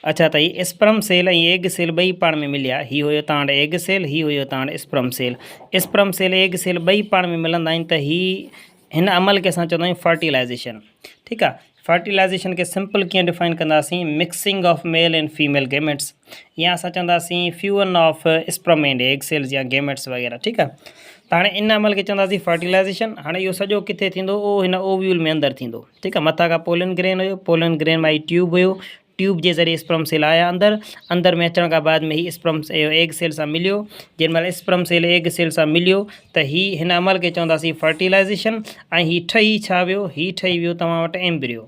اچا ته هي اسپرم سيل ۽ ايگ سيل ٻئي پاڻ ۾ مليا. هي هيو تانئٺ ايگ سيل، هي هيو تانئٺ sperm cell. Sperm cell egg cell ٻئي پاڻ ۾ ملندا آهن ته هي هن عمل کي اسان چوندا آهيون فرٽيلائيزيشن. ٺيڪ آ. فرٽيلائيزيشن کي سمپل ڪيئن ڊفائن ڪنداسين، mixing of male and female gametes. يا اسان چونداسين fusion of sperm and egg cells يا گيميٽس وغيره ٺيڪ آ ته هاڻي ان عمل کي چونداسين فرٽيلائزيشن هاڻي اهو سڄو ڪٿي ٿيندو او هن اوويول ۾ اندر ٿيندو ٺيڪ آ مٿا کان پولن گرين هيو پولن گرين مان هي ٽيوب هيو ٽيوب جي ذريعي اسپرم سيل آيا اندر اندر ۾ اچڻ کان بعد ۾ هي اسپرم ايگ سيل سان مليو جن مهل اسپرم سيل ايگ سيل سان مليو ته هي هن عمل کي چونداسين فرٽيلائزيشن ۽ هي ٺهي ڇا ويو هي ٺهي ويو توهان وٽ ايمبريو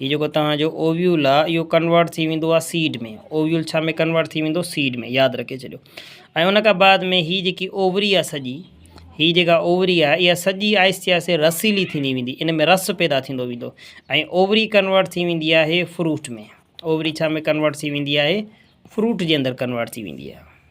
هي جيڪو توهان جو اوويول آ اهو ڪنورٽ ٿي ويندو آ سيڊ ۾ اوويول ڇا ۾ ڪنورٽ ٿي ويندو سيڊ ۾ ياد رکي ڇڏيو ۽ ان کان بعد ۾ هي جيڪي اووري آ سڄي هي جيڪا اووري آ اها سڄي آهستي آهستي رسيلي ٿيندي ويندي ان ۾ رس پيدا ٿيندو ويندو ۽ اووري ڪنورٽ ٿي ويندي آهي فروٽ ۾ اووري ڇا ۾ ڪنورٽ ٿي ويندي آهي فروٽ جي اندر ڪنورٽ ٿي ويندي آهي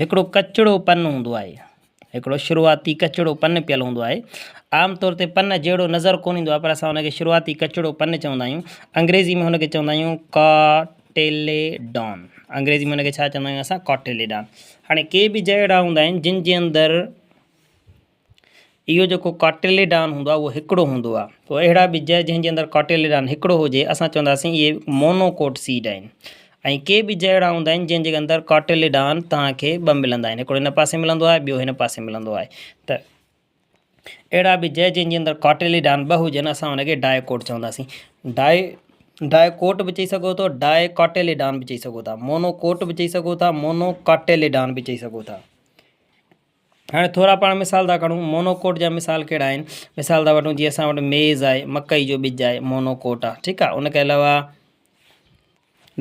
هڪڙو ڪچڙو پن هوندو آهي. هڪڙو شروعاتي ڪچڙو پن پيل هوندو آهي. عام طور تي پن جهڙو نظر ڪونه ايندو آهي پر اسان ان کي شروعاتي ڪچڙو پن چوندا آهيون. انگريزي ۾ ان کي چوندا آهيون ڪاٽيليڊان. انگريزي ۾ ان کي ڇا چوندا آهيون اسان ڪاٽيليڊان. هاڻي ڪي به جهڙا هوندا آهن جن جي اندر اهو جيڪو ڪاٽيليڊان هوندو آهي اهو هڪڙو هوندو آهي تو اهڙا ٻج جنهن جي اندر ڪاٽيليڊان هڪڙو هجي اسان چونداسين اهي مونوڪوٽ سيڊ آهن ۽ ڪي ٻج اهڙا هوندا آهن جنهن جي اندر ڪاٽيليڊان توهان کي ٻه ملندا آهن هڪڙو هن پاسي ملندو آهي ٻيو هن پاسي ملندو آهي ته اهڙا ٻج جنهن جي اندر ڪاٽيليڊان ٻه هجن اسان هن کي ڊائي ڪوٽ چونداسين ڊائي ڊائي ڪوٽ به چئي سگهو ٿو ڊائي ڪاٽيليڊان به چئي سگهو ٿا مونو ڪوٽ به چئي سگهو ٿا مونو ڪاٽيليڊان به چئي سگهو ٿا هاڻي ٿورا پاڻ مثال ٿا کڻون، مونوڪوٽ جا مثال ڪهڙا آهن، مثال ٿا وٺون جي اسان وٽ ميز آهي، مڪئي جو ٻج آهي، مونوڪوٽ آهي، ٺيڪ آهي، ان کان علاوه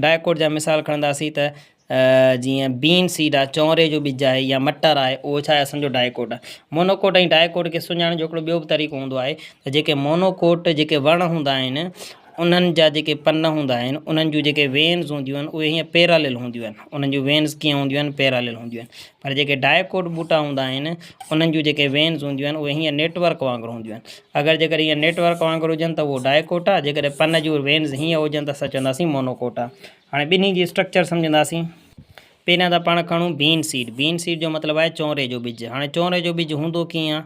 ڊائڪوٽ جا مثال کڻنداسين ته جيئن بين سيڊ آهي، چونري جو ٻج آهي يا مٽر آهي، اهو ڇا آهي اسان جو ڊائڪوٽ آهي. مونوڪوٽ ۽ ڊائڪوٽ کي سڃاڻڻ جو هڪڙو ٻيو به طريقو هوندو آهي ته جيڪي مونوڪوٽ جيڪي وڻ هوندا آهن، انهن جا جيڪي پن هوندا آهن انهن جون جيڪي وينز هونديون آهن اهي هيئن پيراليل هونديون آهن انهن جون وينز ڪيئن هونديون آهن پيراليل هونديون آهن پر جيڪي ڊائڪوٽ ٻوٽا هوندا آهن انهن جون جيڪي وينز هونديون آهن اهي هيئن نيٽ ورڪ وانگر هونديون آهن اگر جيڪر هيئن نيٽ ورڪ وانگر هجن ته اهو ڊائڪوٽ آهي جيڪڏهن پن جون وينز هيئن هجن ته اسان چونداسين مونوڪوٽ آهي هاڻي ٻنهي جي اسٽرڪچر سمجهنداسين پهريان ته پاڻ کڻون بين سيڊ بين سيڊ جو مطلب آهي چونري جو ٻج هاڻي چونري جو ٻج هوندو ڪيئن آهي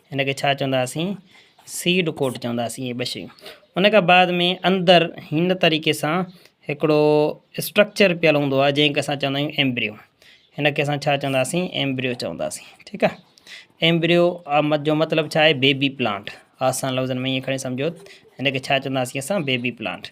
هن کي ڇا چونداسين سيڊ ڪوٽ چونداسين اهي ٻه شيون ان کان بعد ۾ اندر هن طريقي سان هڪڙو اسٽرڪچر پيل هوندو آهي جنهن کي اسان چوندا آهيون ايمبريو هن کي اسان ڇا چونداسين ايمبريو چونداسين ٺيڪ آهي ايمبريو جو مطلب ڇا آهي بيبي پلانٽ آسان لفظن ۾ ائين کڻي سمجهو هن کي ڇا چونداسين اسان بيبي پلانٽ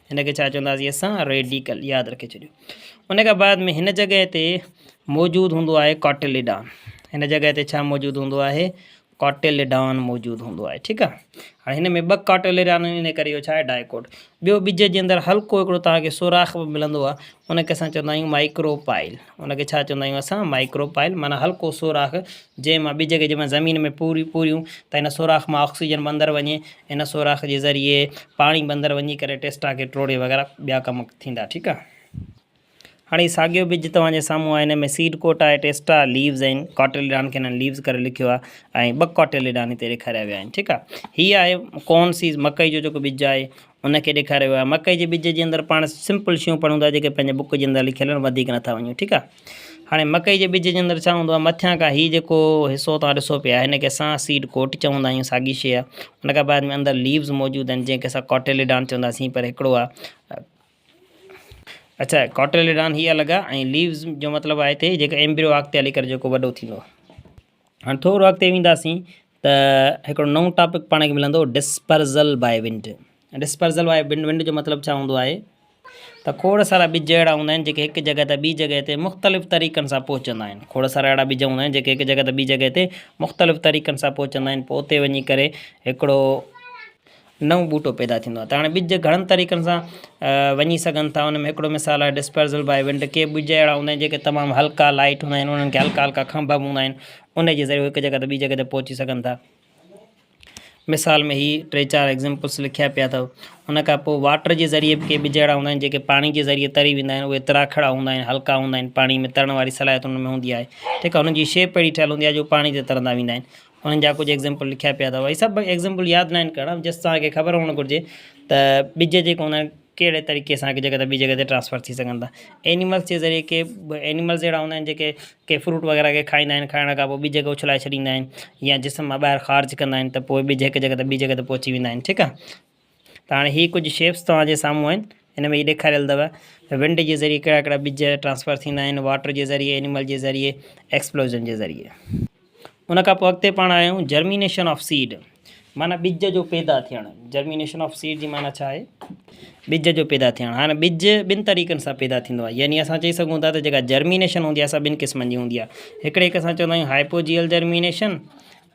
هن کي ڇا چونداسين اسان ريڊيڪل ياد رکي ڇڏيو ان کان بعد ۾ هن جڳهه تي موجود هوندو آهي ڪاٽيليڊان هن جڳهه تي ڇا موجود هوندو آهي ڪاٽيليڊان موجود هوندو آهي ٺيڪ آهي هاڻي هن ۾ ٻه ڪاٽيليڊان آهن ان ڪري اهو ڇا آهي ڊائيڪوٽ ٻيو ٻج جي اندر هلڪو هڪڙو توهان کي سوراخ به ملندو آهي ان کي اسان چوندا آهيون مائڪرو پائل ان کي ڇا چوندا آهيون اسان مائڪرو پائل معنيٰ هلڪو سوراخ جنهن مان ٻج کي جيمهل زمين ۾ پوري پوريون ته ان سوراخ مان آڪسيجن به اندر وڃي ان سوراخ جي ذريعي پاڻي به اندر وڃي ڪري ٽيسٽا کي ٽوڙي وغيره ٻيا ڪم ٿيندا ٺيڪ آ هاڻي هي ساڳيو ٻج توهان جي سامهون آهي هن ۾ سيڊ ڪوٽ آهي ٽيسٽا ليوز آهن ڪاٽيليڊان کي هنن ليوز ڪري لکيو آهي ۽ ٻه ڪاٽيليڊان هتي ڏيکاريا ويا آهن ٺيڪ آ هي آهي ڪون سيز مڪئي جو جيڪو ٻج آهي ان کي ڏيکاريو ويو آهي مڪئي جي ٻج جي اندر پاڻ سمپل شيون پڙهون ٿا جيڪي پنهنجي بوڪ جي اندر لکيل آهن وڌيڪ نٿا وڃون ٺيڪ آهي هاڻي مڪئي جي ٻج جي اندر ڇا هوندو آهي مٿيان کان هي جيڪو حصو توهان ڏسو پيا هن کي اسان سيڊ ڪوٽ چوندا آهيون ساڳي شيء آهي ان کان بعد ۾ اندر ليوز موجود آهن جنهن کي اسان ڪاٽيليڊان چوندا سين پر هڪڙو آهي اچھا ڪاٽيليڊان هي الڳ آهي ۽ ليوز جو مطلب آهي هتي جيڪو ايمبريو اڳتي هلي ڪري جيڪو وڏو ٿيندو آهي هاڻي ٿورو اڳتي وينداسين ته هڪڙو نئون ٽاپڪ پاڻ کي ملندو ڊسپرزل باء ونڊ ڊسپرزل باء ونڊ ونڊ جو مطلب ڇا هوندو آهي ته کوڙ سارا ٻج اهڙا هوندا آهن جيڪي هڪ جڳهه تان ٻي جڳهه تي مختلف طريقن سان پهچندا آهن کوڙ سارا اهڙا ٻج هوندا آهن جيڪي هڪ جڳهه تان ٻي جڳهه تي مختلف طريقن سان پهچندا آهن پوء اتي وڃي ڪري هڪڙو نئون ٻوٽو پيدا ٿيندو آهي ته هاڻي ٻج گهڻن طريقن سان وڃي سگهن ٿا ان ۾ هڪڙو مثال آهي ڊسپرزل بائي ونڊ ڪي ٻج اهڙا هوندا آهن جيڪي تمام هلڪا لائٽ هوندا آهن انهن کي هلڪا هلڪا کنڀ به هوندا آهن ان جي ذريعي هڪ جڳهه ته ٻي جڳهه ته پهچي سگهن ٿا مثال ۾ هي ٽي چار ايگزامپلس لکيا پيا اٿو ان کان پوء واٽر جي ذريعي به ڪي ٻج اهڙا هوندا آهن جيڪي پاڻي جي ذريعي تري ويندا آهن اهي تراکڙا هوندا آهن هلڪا هوندا آهن پاڻي ۾ ترڻ واري صلاحيت ان ۾ هوندي آهي ٺيڪ آهي ان جي شيپ اهڙي ٺهيل هوندي آهي جو پاڻي تي ترندا ويندا آهن انهن جا ڪجهه ايگزيمپل لکيا پيا اٿئو. هي سڀ ايگزيمپل ياد ناهن ڪرڻا جسٽ توهان کي خبر هئڻ گهرجي ته ٻج جيڪي هوندا آهن ڪهڙي طريقي سان هڪ جڳهه تان ٻي جڳهه تي ٽرانسفر ٿي سگهن ٿا. اينيملس جي ذريعي ڪي اينيملس اهڙا هوندا آهن جيڪي ڪي فروٽ وغيره کي کائيندا آهن کائڻ کان پوء ٻج کي اڇلائي ڇڏيندا آهن يا جسم مان ٻاهر خارج ڪندا آهن ته پوء ٻج هڪ جڳهه تان ٻي جڳهه تي پهچي ويندا آهن ٺيڪ آهي ته هاڻي هي ڪجهه شيپس توهان جي سامهون آهن ان ۾ هي ڏيکاريل اٿو ته ونڊ جي ذريعي ڪهڙا ڪهڙا ٻج ٽرانسفر ٿيندا آهن واٽر جي ذريعي انيمل جي ذريعي ايڪسپلوزن جي ذريعي ان کان پوء اڳتي پاڻ آيون جرمينيشن آف سيڊ معنيٰ ٻج جو پيدا ٿيڻ جرمينيشن آف سيڊ جي معنيٰ ڇا آهي ٻج جو پيدا ٿيڻ هاڻي ٻج ٻن طريقن سان پيدا ٿيندو آهي يعني اسان چئي سگهون ٿا ته جيڪا جرمينيشن هوندي آهي سا ٻن قسمن جي هوندي آهي هڪڙي کي اسان چوندا آهيون هائپوجيئل جرمينيشن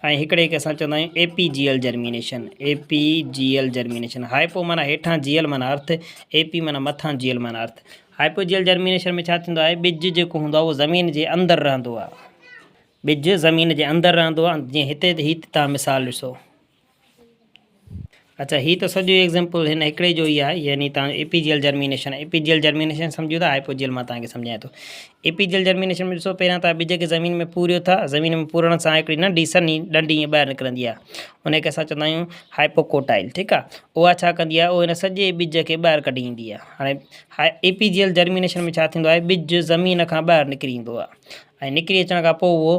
۽ هڪڙي کي اسان چوندا آهيون اي پي جي ايل جرمينيشن اي پي جي ايل جرمينيشن هائپو معنيٰ هيٺان جي ايل معنيٰ ارٿ اي پي معنيٰ مٿان جي ايل معنيٰ ارٿ هائپو جي ايل جرمينيشن ۾ ڇا ٿيندو آهي ٻج جيڪو هوندو آهي اهو زمين جي اندر رهندو آهي ٻج زمين جي اندر رهندو آهي جيئن هتي هي تان مثال ڏسو. اچا هي ته سڄو ايگزامپل هن هڪڙي جو ئي آهي يعني تان اي پي جي ايل جرمينيشن اي پي جي ايل جرمينيشن سمجهو ٿا آء پو جي ايل مان تان کي سمجهايان ٿو اي پي جي ايل جرمينيشن ۾ ڏسو پهريان تان ٻج کي زمين ۾ پوريو ٿا زمين ۾ پورڻ سان هڪڙي ننڍي سني ڏنڊي ائين ٻاهر نڪرندي آهي ان کي اسان چوندا آهيون هائي پو ڪوٽائل ٺيڪ آهي اها ڇا ڪندي آهي ان سڄي ٻج کي ٻاهر ڪڍي ايندي آهي هاڻي هائي اي پي جي ايل جرمينيشن ۾ ڇا ٿيندو آهي ٻج زمين کان ٻاهر نڪري ايندو آهي ۽ نڪري اچڻ کان پو اهو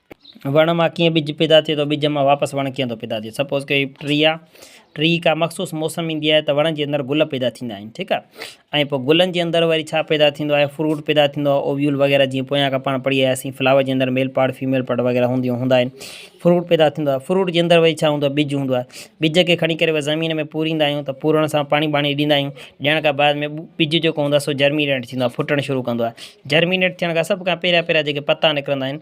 وڻ مان ڪيئن ٻج پيدا ٿئي ٿو ٻج مان واپس وڻ ڪيئن ٿو پيدا ٿئي سپوز ڪري هڪ ٽري آ ٽري کان مخصوص موسم ايندي آهي ته وڻ جي اندر گل پيدا ٿيندا آهن ٺيڪ آ ۽ پوء گلن جي اندر وري ڇا پيدا ٿيندو آهي فروٽ پيدا ٿيندو آهي اويول وغيره جيئن پويان کان پاڻ پڙهي آياسين فلاور جي اندر ميل پارٽ فيميل پارٽ وغيره هونديون هوندا آهن فروٽ پيدا ٿيندو آهي فروٽ جي اندر وري ڇا هوندو آهي ٻج هوندو آهي ٻج کي کڻي ڪري وري زمين ۾ پوريندا آهيون ته پورڻ سان پاڻي ٻاڻي ڏيندا آهيون ڏيڻ کان بعد ۾ ٻج جيڪو هوندو آهي سو جرمينيٽ ٿيندو آهي ڦٽڻ شروع ڪندو آهي جرمينيٽ ٿيڻ کان سڀ کان پهريان پهريان جيڪي پتا نڪرندا آهن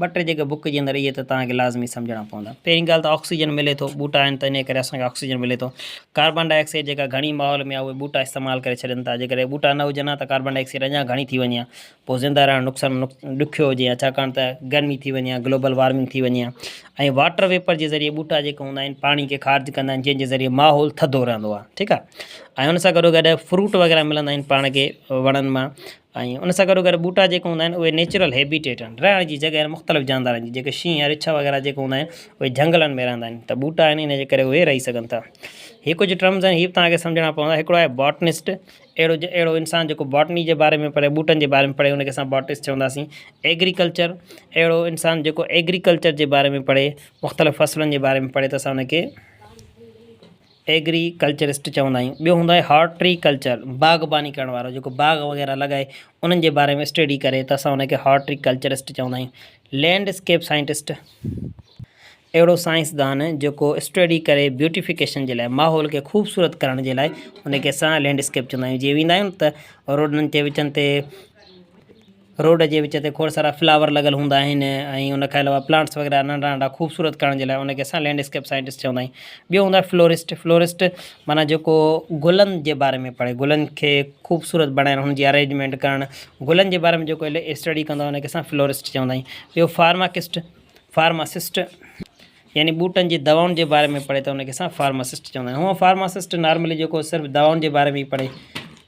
ٻه ٽي جيڪي بوڪ جي اندر اهي ته توهان کي لازمي سمجهڻا پوندا. پهرين ڳالهه ته آڪسيجن ملي ٿو، ٻوٽا آهن ته انهيء ڪري اسان کي آڪسيجن ملي ٿو. ڪاربان ڊاء آڪسائيڊ جيڪا گهڻي ماحول ۾ آهي اهي ٻوٽا استعمال ڪري ڇڏين ٿا. جيڪڏهن ٻوٽا نه هجن ها ته ڪاربان ڊاء آڪسائيڊ اڃا گهڻي ٿي وڃي ها. پوء زنده رهڻ نقصان ڏکيو هجي ها ڇاڪاڻ ته گرمي ٿي وڃي ها، گلوبل وارمنگ ٿي وڃي ها ۽ واٽر ويپر جي ذريعي ٻوٽا جيڪي هوندا آهن پاڻي کي خارج ڪندا آهن جنهن جي ذريعي ماحول ٿڌو رهندو آهي ٺيڪ آهي ۽ ان سان گڏو گڏ فروٽ وغيره ملندا آهن پاڻ کي وڻن مان ۽ ان سان گڏوگڏ ٻوٽا جيڪي هوندا آهن اهي نيچرل هيبيٽيٽ آهن، رهڻ جي جڳهه آهن مختلف جاندارن جي، جيڪي شينهن ۽ رڇ وغيره جيڪي هوندا آهن اهي جهنگلن ۾ رهندا آهن ته ٻوٽا آهن ان جي ڪري اهي رهي سگهن ٿا. هي ڪجهه ٽرمز آهن هي به توهان کي سمجهڻا پوندا، هڪڙو آهي باٽنسٽ، اهڙو اهڙو انسان جيڪو باٽني جي باري ۾ پڙهي، ٻوٽن جي باري ۾ پڙهي ان کي اسان باٽنسٽ چونداسين. ايگريڪلچر، اهڙو انسان جيڪو ايگريڪلچر جي باري ۾ پڙهي، مختلف فصلن جي باري ۾ پڙهي ته اسان ان کي. ايگري ڪلچرسٽ چوندا آهيون. ٻيو هوندو آهي هارٽ ٽري ڪلچر، باغباني ڪرڻ وارو جيڪو باغ وغيره لڳائي انهن جي باري ۾ اسٽيڊي ڪري ته اسان ان کي هارٽ ٽري ڪلچرسٽ چوندا آهيون. لينڊ اسڪيپ سائنٽسٽ، اهڙو سائنسدان جيڪو اسٽيڊي ڪري بيوٽيفڪيشن جي لاء ماحول کي خوبصورت ڪرڻ جي لاء ان کي اسان لينڊ اسڪيپ چوندا آهيون. جيئن ويندا آهيون ته روڊن جي وچن تي. روڊ جي وچ تي کوڙ سارا فلاور لڳل هوندا آهن ۽ ان کان علاوه پلانٽس وغيره ننڍا ننڍا خوبصورت ڪرڻ جي لاء ان کي اسان لينڊ اسڪيپ سائنٽسٽ چوندا آهيون ٻيو هوندو آهي فلورسٽ فلورسٽ معنيٰ جيڪو گلن جي باري ۾ پڙهي گلن کي خوبصورت بڻائڻ ان جي ارينجمينٽ ڪرڻ گلن جي باري ۾ جيڪو اسٽڊي ڪندو آهي ان کي اسان فلورسٽ چوندا آهيون ٻيو فارماڪسٽ فارماسسٽ يعني ٻوٽن جي دوائن جي باري ۾ پڙهي ته ان کي اسان فارماسسٽ چوندا آهيون هو فارماسسٽ نارملي جيڪو صرف دوائن جي باري ۾ پڙهي